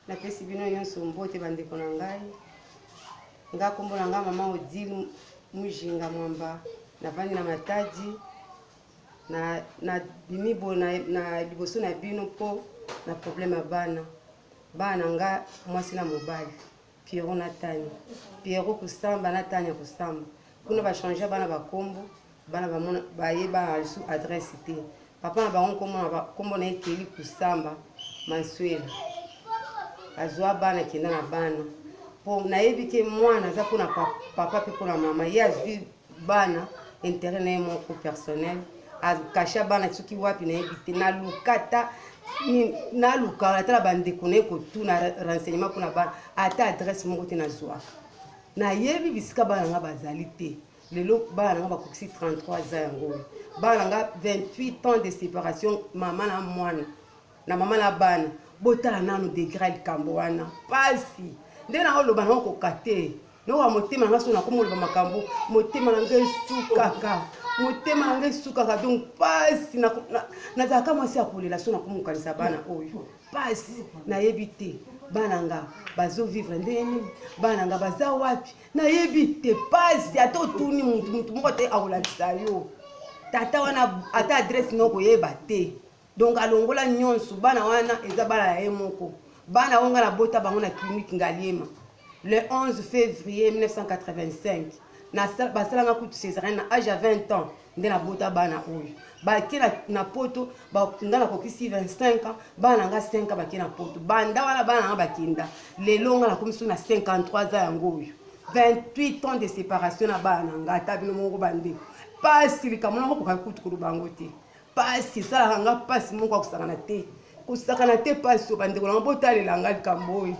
napesi bino nyonso mbote bandeko na ngai nga nkombo na ngai mama odile mujinga mwamba navandi na matadi na, na bimi bo na, na liboso na bino mpo na probleme ya bana bana na nga mwasi na mobali Pierrot na Tania. Pierrot kusamba na Tania kusamba. Kuna ba changer bana ba kombo, bana ba mona ba yeba su adresse te. Papa na bango kombo na ba kombo na ekeli kusamba Mansuela. Azwa bana kenda na bana. Po nayebi ke mwana aza pona papa pe pona mama. Ye azwi bana interet na ye moko personnel akasha bana soki wapi nayebi te naluka ata naluka ata na bandeko na ye kotuna renseignement mpona bana ata adresse moko te nazwaka nayebi bisika bana nga bazali te lelo bana nanga bakokisi 33 ans yango oyo bana nanga 28 ans de séparation mama na mwana na mama na bana botala nanu degre ya likambo wana mpasi nde na oloba nango koka te nowa motema nanga so nakomi oloba makambo motema na ngai esukaka motema na ngai esukaka donc mpasi nazalaka mwasi ya kolela so nakomi kokanisa bana oyo mpasi nayebi te bana nga bazovivre ndenge nini bana nga baza wapi nayebi te mpasi ata otuni motu motu moko te akolakisa yo tata wana ata adresse noko yeba te donc alongola nyonso bana wana eza bana ya ye moko bana oyo ngai nabota bango na clinique ngaliema le 11 février 1985 basalanga kutu césarienne na age ya 20 ans nde nabota bana oyo bake na poto nga nakokisi 25 ans bana na nga 5 ans bake na poto banda wana bana na nga bakenda lelo nga nakomi soki na 53 ans yango oyo 28 ans de séparation na bana na nga ata bino moko bandeko mpasi likambo nako kokoka kutu koloba yango te pasi esalaka nga pasi moko ya kosakana te kosakana te pasi oyo bandeko nanga botalela nga likambo oyo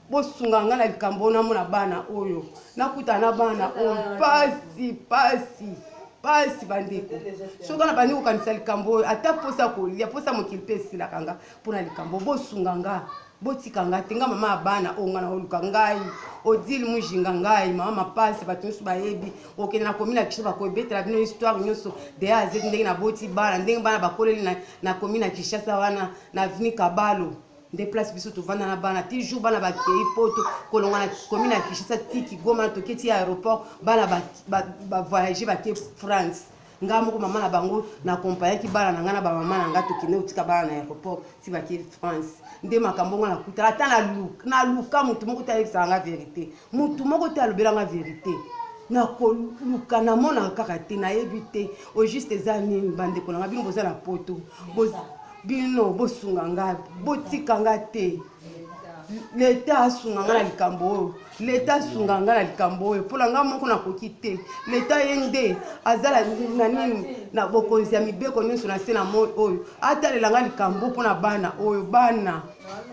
bosunga nga na likambo oyo namona bana oyo nakutana na bana oyo pasi pasi pasi bandeko soki wana bandi kokanisa likambo oyo ata mposa kolia mposa mokili mpe esilaka nga mpo na likambo bosunga nga botika nga te nga mama ya bana oyo nga naoluka ngai odile mujinga ngai mama mapasi bato nyonso bayebi okende na komi na kisho bakoebetela bino histoire nyonso deya azeki ndenge naboti bana ndenge bana bakoleli na, na komi na kinshasa wana na aveni kabalo nde place biso tovanda na bana ti jour bana bakei poto kolonga na komi na kinshasa ti kigoma tokei ti aéroport bana bavoyage bake france nga moko mama na bango na accompagnaki bana na nga na bamama na nga tokende kotika bana na aéroport ti bake france nde makambo ngo nakutala ata naluka motu moko te ayebisaka nga verité motu moko te alobela nga verité nakoluka namonaka kaka te nayebi te au juste eza nini bandeko na nga bino boza na poto bino bosunga nga botika nga te leta asunga nga na likambo oyo leta asunga nga na likambo oyo mpo na nga moko nakoki te leta ye nde aza na nini na bokonzi ya mibeko nyonso na se na moi oyo atalela nga likambo mpo na bana oyo bana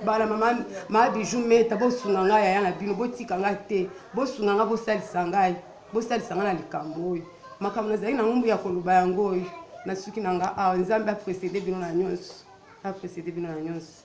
bana mama maa bijou meta bosunga ngai yaya na bino botika ngai te bosunga ngai bosalisa ngai bosalisa ngai na likambo oyo makambo nazali na ngombo ya koloba yango oyo nasuki na nga awa nzambe aprecede bino na nyonso aprecede bino na nyonso